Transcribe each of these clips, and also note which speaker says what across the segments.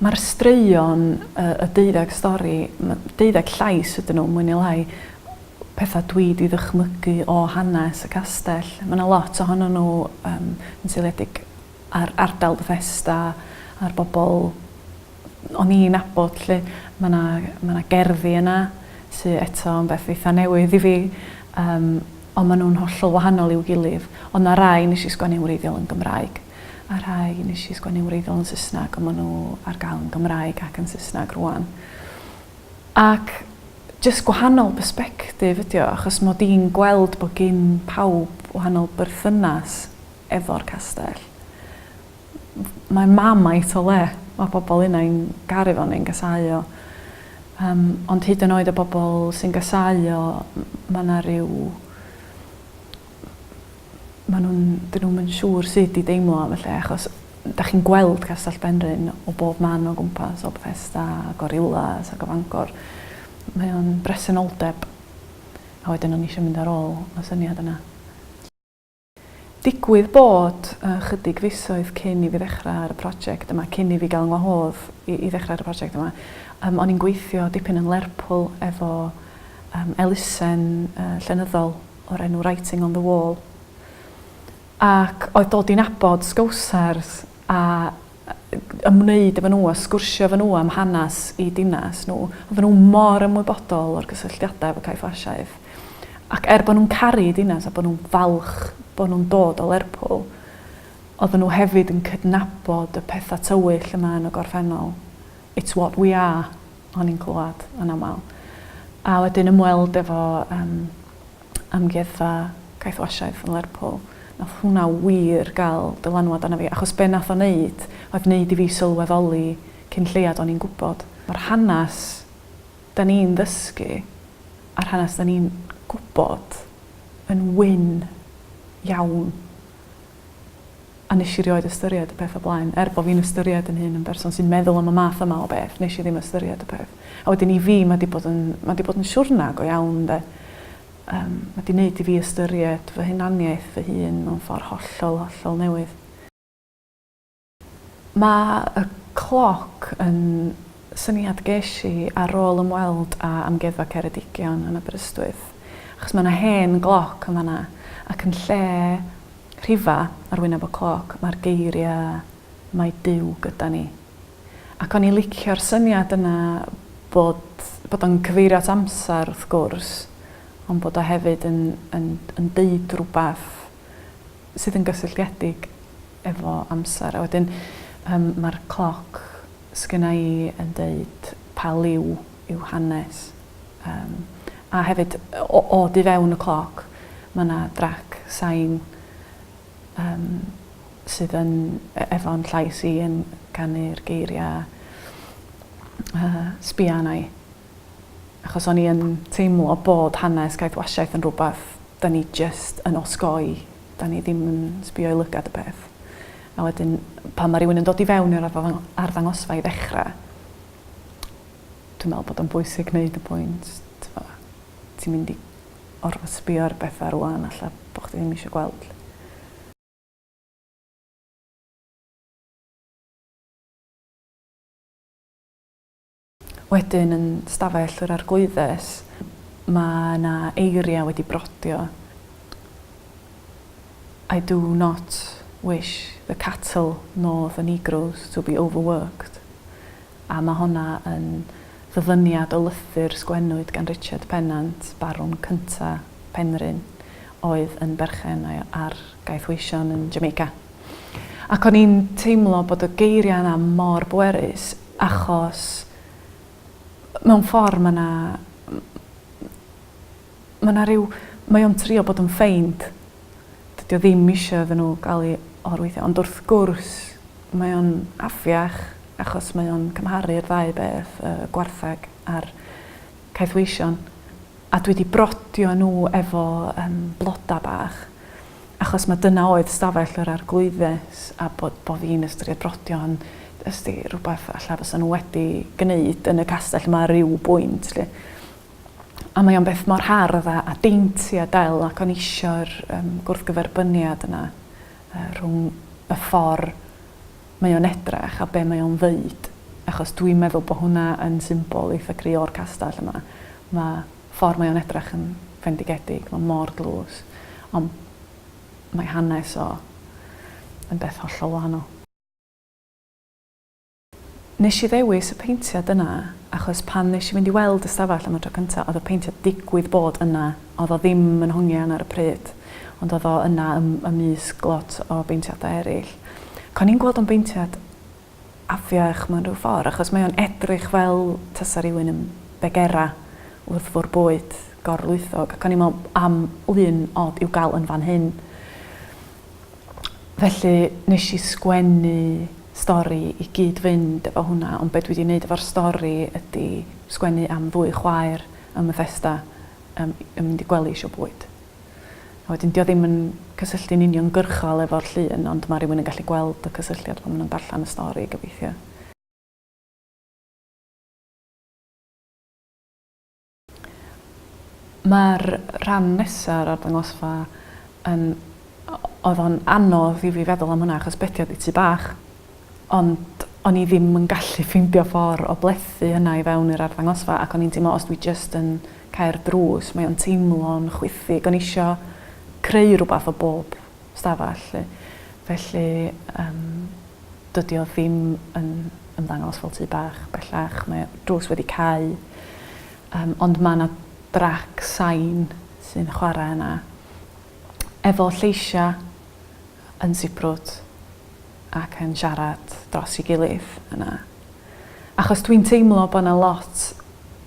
Speaker 1: Mae'r straeon, y deuddeg stori, deuddeg llais ydyn nhw, mwy neu lai, pethau dwi wedi ddychmygu o hanes y castell. Mae yna lot ohonyn nhw um, yn seiliedig ar ardal Bethesda, ar bobl o'n i'n abod lle. Mae yna, mae yna gerddi yna sy'n eto yn beth eitha newydd i fi, um, ond maen nhw'n hollol wahanol i'w gilydd. Ond mae rai nes i sgwennu'n wreiddiol yn Gymraeg. a rhai nes i sgwennu'n wreiddiol yn Saesneg ond ma' n'w ar gael yn Gymraeg ac yn Saesneg rŵan. Ac jyst gwahanol persbectif ydi o achos mod i'n gweld bod gin pawb wahanol berthynas efo'r castell. Mae Marmite o le, mae pobl innau'n garu fo neu'n gasau o yym ond hyd yn oed y bobl sy'n gasau o ma' 'na ryw ma' nhw'n... 'dyn nhw'm yn siŵr sut i deimlo am y lle achos 'dach chi'n gweld Castell Benrhyn o bob man o gwmpas, o Bethesda a Gorillas ac o Fangor. Mae o'n bresenoldeb. A wedyn o'n i isio mynd ar ôl y syniad yna. Digwydd bod, ychydig fisoedd cyn i fi ddechrau ar y prosiect yma, cyn i fi gael 'ngwahodd i ddechrau ar y prosiect yma, yym o'n i'n gweithio dipyn yn Lerpwl efo yym elusen llenyddol. o'r enw Writing on the Wall ac oedd dod i nabod Sgowsers a ymwneud efo nhw a sgwrsio efo nhw am hanes i dinas nhw. Oedden nhw mor ymwybodol o'r gysylltiadau efo Cae Ffrasiaeth. Ac er bod nhw'n caru dinas a bod nhw'n falch bod nhw'n dod o Lerpwl, oedden nhw hefyd yn cydnabod y pethau tywyll yma yn y gorffennol. It's what we are. o'n i'n clywed yn aml. A wedyn ymweld efo um, amgueddfa caethwasiaeth yn Lerpwl. Nath hwnna wir gael dylanwad arna fi, achos be nath o wneud, oedd wneud i fi sylweddoli cyn lleiad o'n i'n gwybod. Mae'r hanes da ni'n ddysgu a'r hanes da ni'n gwybod yn wyn iawn. A nes i rioed ystyried y peth o blaen. Er bo fi'n ystyried yn hun yn berson sy'n meddwl am y math yma o beth, nes i ddim ystyried y peth. A wedyn i fi ma di bod yn, ma di bod yn siwrna go iawn ynde. Yym, ma di neud i fi ystyried fy hunaniaeth fy hun mewn ffor hollol, hollol newydd. Mae y cloc yn syniad ges i ar ôl ymweld â Amgueddfa Ceredigion yn Aberystwyth, achos mae 'na hen gloc yn fan'na, ac yn lle 'rhifa' ar wyneb y cloc, mae'r geiriau 'Mae Duw gyda ni'. Ac o'n i'n licio'r syniad yna bod bod o'n cyfeirio at amser, wrth gwrs, ond bod o hefyd yn yn yn deud rhywbeth sydd yn gysylltiedig efo amser a wedyn yym ma'r cloc sgynna i yn deud pa liw yw hanes yym a hefyd o o du fewn y cloc ma' 'na drac sain yym sydd yn e- efo'n llais i yn canu'r geiria yy sbia arna i. achos o'n i yn teimlo bod hanes caethwasiaeth yn rhywbeth 'da ni jyst yn osgoi, 'da ni ddim yn sbio i lygad y peth. A wedyn pan mae rhywun yn dod i fewn i'r arddangosfa i ddechrau, dwi'n meddwl bod o'n bwysig gwneud y pwynt, tibod, ti'n mynd i orfod sbio ar bethau rŵan ella bod chdi ddim eisiau gweld 'lly. Wedyn yn stafell yr Arglwyddes mae yna eiriau wedi brodio I do not wish the cattle nor the negroes to be overworked a mae honna yn ddyfyniad o lythyr sgwennwyd gan Richard Pennant, Barwn Cynta' Penrhyn, oedd yn berchen ar gaethweision yn Jamaica. Ac o'n i'n teimlo bod y geiriau yna mor bwerus achos mewn ffordd mae yna... mae yna rhyw... mae o'n trio bod yn ffeind. Dydy o ddim eisiau iddyn nhw gael ei or-weithio. Ond wrth gwrs mae o'n afiach achos mae o'n cymharu'r ddau beth, y gwartheg a'r caethweision. a dwi 'di brodio nhw efo yym bloda bach achos ma' dyna oedd stafell yr Arglwyddes a bo' bo' fi'n ystyried brodio yn jyst i rwbath alla fysa nhw wedi gneud yn y castell 'ma ar ryw bwynt 'lly. A mae o'n beth mor hardd a a dainty a del ac o'n i isio'r yym gwrthgyferbyniad yna yy rhwng y ffor mae o'n edrach a be mae o'n ddeud achos dwi'n meddwl bo hwnna yn symbol eitha gry o'r castell yma ma ffor mae o'n edrach yn fendigedig ma mor dlws ond mae hanes o yn beth hollol wahanol. Neshi ddewis y peintiad yna achos pan neshi fynd i weld y stafell am y tro cynta oedd y peintiad digwydd bod yna oedd o ddim yn hongian ar y pryd. ond oedd o yna ym, ymysg lot o beintiadau eraill. Ac o'n i'n gweld o'n beintiad afiach mewn rhyw ffordd, achos mae o'n edrych fel tasa rhywun yn begera wrth fwrw bwyd gorlwythog, ac o'n i'n meddwl am lun od i'w gael yn fan hyn. Felly, nes i sgwennu stori i gyd-fynd efo hwnna, ond be dwi wedi wneud efo'r stori ydy sgwennu am ddwy chwaer ym Methesda, yym yn mynd i gwely isio bwyd. A wedyn 'di o ddim yn cysylltu'n uniongyrchol efo'r llun ond ma' rywun yn gallu gweld y cysylltiad pan ma' nw'n darllan y stori gobeithio. Ma'r rhan nesa o'r arddangosfa yn o- o'dd o'n anodd i fi feddwl am hwnna achos be' 'di o ddi tŷ bach Ond o'n i ddim yn gallu ffeindio ffordd o blethu hynna i fewn i'r arddangosfa ac o'n i'n teimlo os dwi jyst yn cau'r drws mae o'n teimlo'n chwithig. O'n i isio creu rhywbeth o bob stafell 'lly. Felly yym dydi o ddim yn ymddangos fel tŷ bach bellach mae y drws wedi cau yym ond ma' 'na drac sain sy'n chware yna efo lleisia' yn sibrwd ac yn siarad dros ei gilydd yna. Achos dwi'n teimlo bod yna lot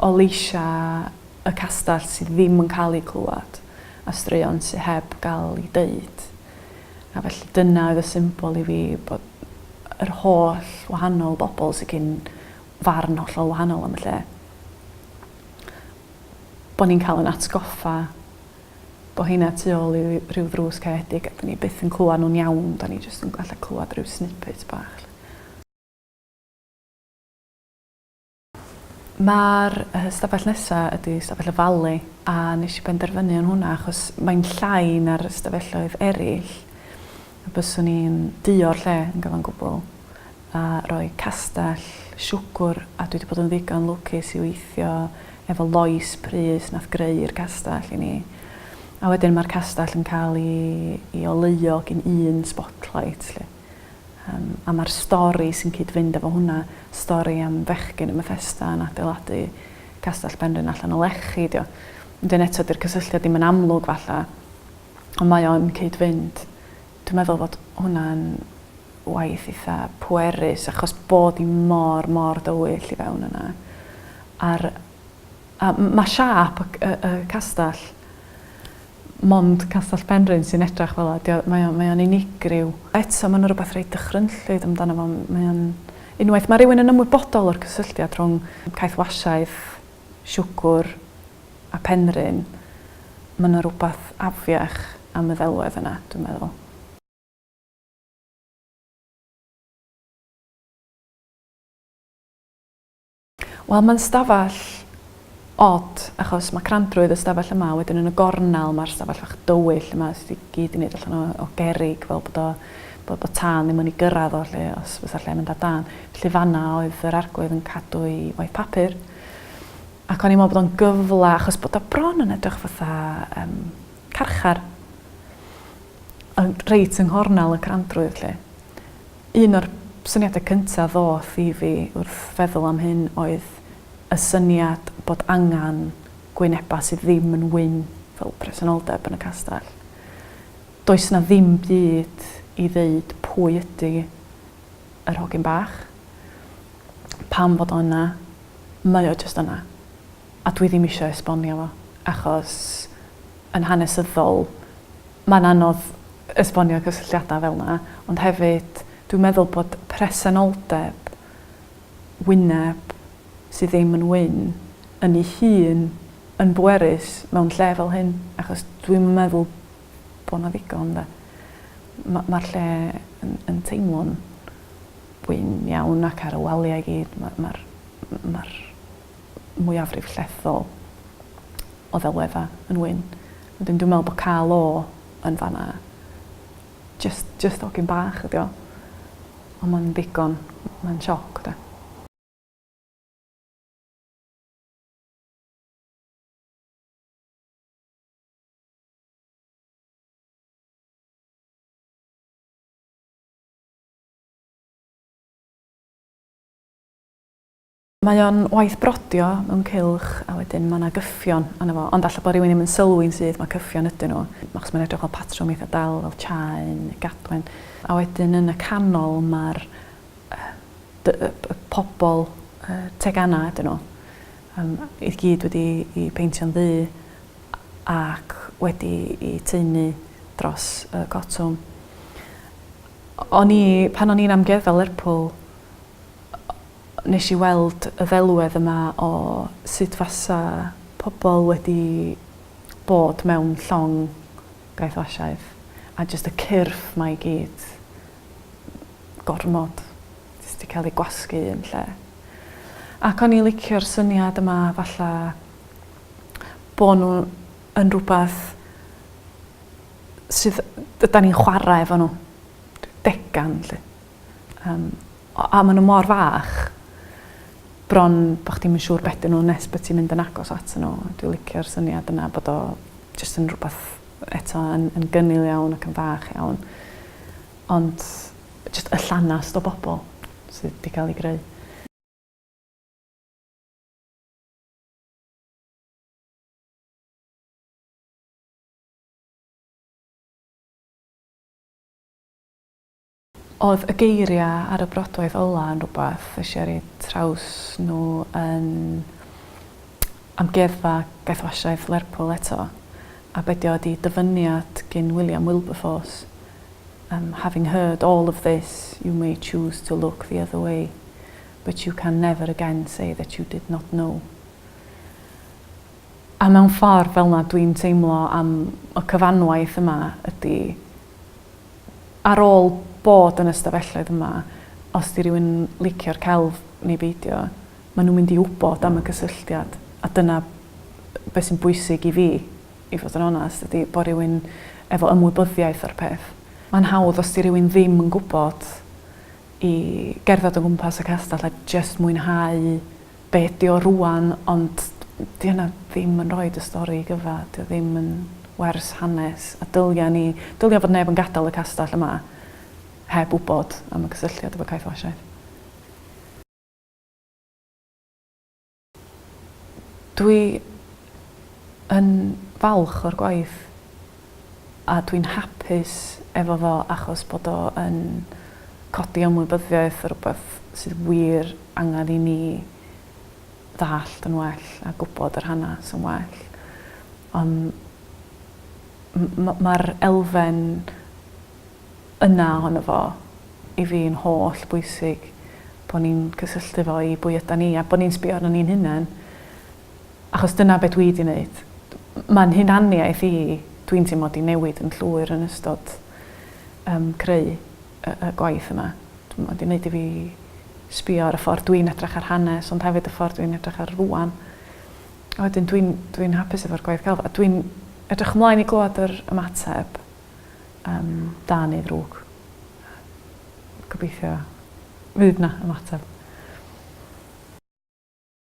Speaker 1: o leisiau y castell sydd ddim yn cael eu clywed a straeon sydd heb gael eu deud. A felly dyna oedd y symbol i fi bod yr holl wahanol bobl sydd cyn farn hollol wahanol am y lle bod ni'n cael ein atgoffa bo' rheina tu ôl i ryw ddrws caredig a 'dyn ni byth yn clywad nhw'n iawn, 'dan ni jyst yn gallu clywad ryw snippets bach 'lly. Ma'r yy stafell nesa ydi stafell y Valley a nesh i benderfynu yn hwnna achos mae'n llai na'r ystafelloedd eryll a byswn i'n duo'r lle yn gyfan gwbwl. a rhoi castell siwgwr a dwi 'di bod yn ddigon lwcus i weithio efo Lois Prys nath greu'r castell i ni a wedyn ma'r castell yn cael i i oleuo gin un spotlight 'lly yym a ma'r stori sy'n cyd-fynd efo hwnna stori am fechgyn yn Bethesda yn adeiladu castell Benrhyn allan o lechi 'di o wedyn eto 'di'r cysylltiad ddim yn amlwg falla ond mae o'n cyd-fynd Dwi'n meddwl fod hwnna'n waith eitha pwerus achos bod hi mor, mor dywyll i fewn yna. A'r, a mae siâp y, y, y castell mond Castell Penrhyn sy'n edrach fel yna. Mae o'n, mae o'n unigryw. Eto, mae yna rhywbeth reit dychrynllyd amdano fo. Mae o'n... Unwaith mae rhywun yn ymwybodol o'r cysylltiad rhwng caethwasiaeth, siwgwr, a Penrhyn, ma' 'na rwbath afiach am y ddelwedd yna, dwi'n meddwl. Wel ma'n stafell od achos ma' crandrwydd y stafell yma a wedyn yn y gornel ma'r stafell fach dywyll yma sy' i gyd i neud allan o o gerrig fel bod o bod bod tân ddim yn i gyrradd o 'lly os fysa lle mynd ar dân. Felly fan 'na oedd yr arglwydd yn cadw'i waith papur. Ac o'n i'n meddwl bod o'n gyfle achos bod o bron yn edrych fatha yym carchar. Yn reit yng nghornel y crandrwydd 'lly. Un o'r syniadau cynta ddoth i fi wrth feddwl am hyn oedd y syniad bod angen gwyneba sydd ddim yn wyn fel presenoldeb yn y castell. Does 'na ddim byd i ddeud pwy ydi yr hogyn bach. Pam fod o yna? Mae o jyst yna. A dwi ddim isio esbonio fo, achos yn hanesyddol mae'n anodd esbonio cysylltiadau fel 'na, ond hefyd dwi'n meddwl bod presenoldeb wyneb sydd ddim yn wyn yn ei hun yn bwerus mewn lle fel hyn, achos dwi'm yn meddwl bod 'na ddigon 'de. Ma' ma'r lle yn yn teimlo'n wyn iawn ac ar y walia i gyd ma' ma'r m- ma'r mwyafrif llethol o ddelwedda yn wyn. Wedyn dwi me'wl bo' ca'l o yn fan 'na jyst jyst hogyn bach ydi o. On' ma'n ddigon ma'n sioc 'de. Mae o'n waith brodio mewn cylch a wedyn mae 'na gyffion arno fo, ond falle bod rhywun ddim yn sylwi'n syth mae cyffion ydyn nhw, achos mae'n edrych fel patrwm eitha' dal fel chain neu gadwyn. A wedyn yn y canol mae'r yy y y pobl yy tegana' ydyn nhw yym i gyd wedi'u peintio'n ddu ac wedi i taenu dros y Cotwm. O'n i, pan o'n i'n amgueddfa Lerpwl, nes i weld y ddelwedd yma o sut fasa pobl wedi bod mewn llong gaeth o Asiaidd, a jyst y cyrff 'ma i gyd, gormod, jyst 'di cael eu gwasgu un lle. Ac o'n i'n licio'r syniad yma, falla, bo' n'w yn rwbath sydd yy 'dan ni'n chwara efo n'w. Degan 'lly. Yym o- a ma' n'w mor fach bron bo' chdi'm yn siŵr be' 'dyn n'w nes bo' ti'n mynd yn agos atyn n'w. Dwi licio'r syniad yna bod o jyst yn rwbath eto yn yn gynnil iawn ac yn fach iawn ond jyst y llanast o bobol sydd 'di ga'l 'u greu. Oedd y geiriau ar y brodwaith ola yn rhywbeth es i ar eu traws nhw yn Amgueddfa Gaethwasiaeth Lerpwl eto, a be' 'di o ydi dyfyniad gin William Wilberforce yym having heard all of this you may choose to look the other way. but you can never again say that you did not know. A mewn ffordd fel yna dwi'n teimlo am y cyfanwaith yma ydy ar ôl bod yn y stafelloedd yma, os di rhywun licio'r celf neu beidio, maen nhw'n mynd i wybod am y cysylltiad. A dyna beth sy'n bwysig i fi, i fod yn onest, ydy bod rhywun efo ymwybyddiaeth o'r peth. Mae'n hawdd os di rhywun ddim yn gwybod i gerdded o gwmpas y castell a jyst mwynhau be' ydi o rŵan ond 'di hynna ddim yn roid y stori i gyfa' 'di o ddim yn wers hanes a dylia ni dylia fod neb yn gadal y castell yma heb wbod am y cysylltiad efo caethwasiaeth. Dwi yn falch o'r gwaith a dwi'n hapus efo fo achos bod o yn codi ymwybyddiaeth o rywbeth sydd wir angen i ni ddallt yn well a gwybod yr hanes yn well. Ond m- m- mae'r elfen yna ohono fo, i fi yn holl bwysig bo ni'n cysylltu fo i bwy ydan ni a bo ni'n sbio arnon ni'n hunen achos dyna be dwi di neud. Ma'n hunaniaeth i, dwi'n teimlo, di newid yn llwyr yn ystod yym creu y y gwaith yma. Dw- ma' di neud i fi sbio ar y ffordd dwi'n edrach ar hanes ond hefyd y ffordd dwi'n edrach ar rŵan. A wedyn dwi'n dwi'n hapus efo'r gwaith celf a dwi'n edrych ymlaen i glwad yr ymateb. yym da neu ddrwg. Gobeithio fydd 'na ymateb.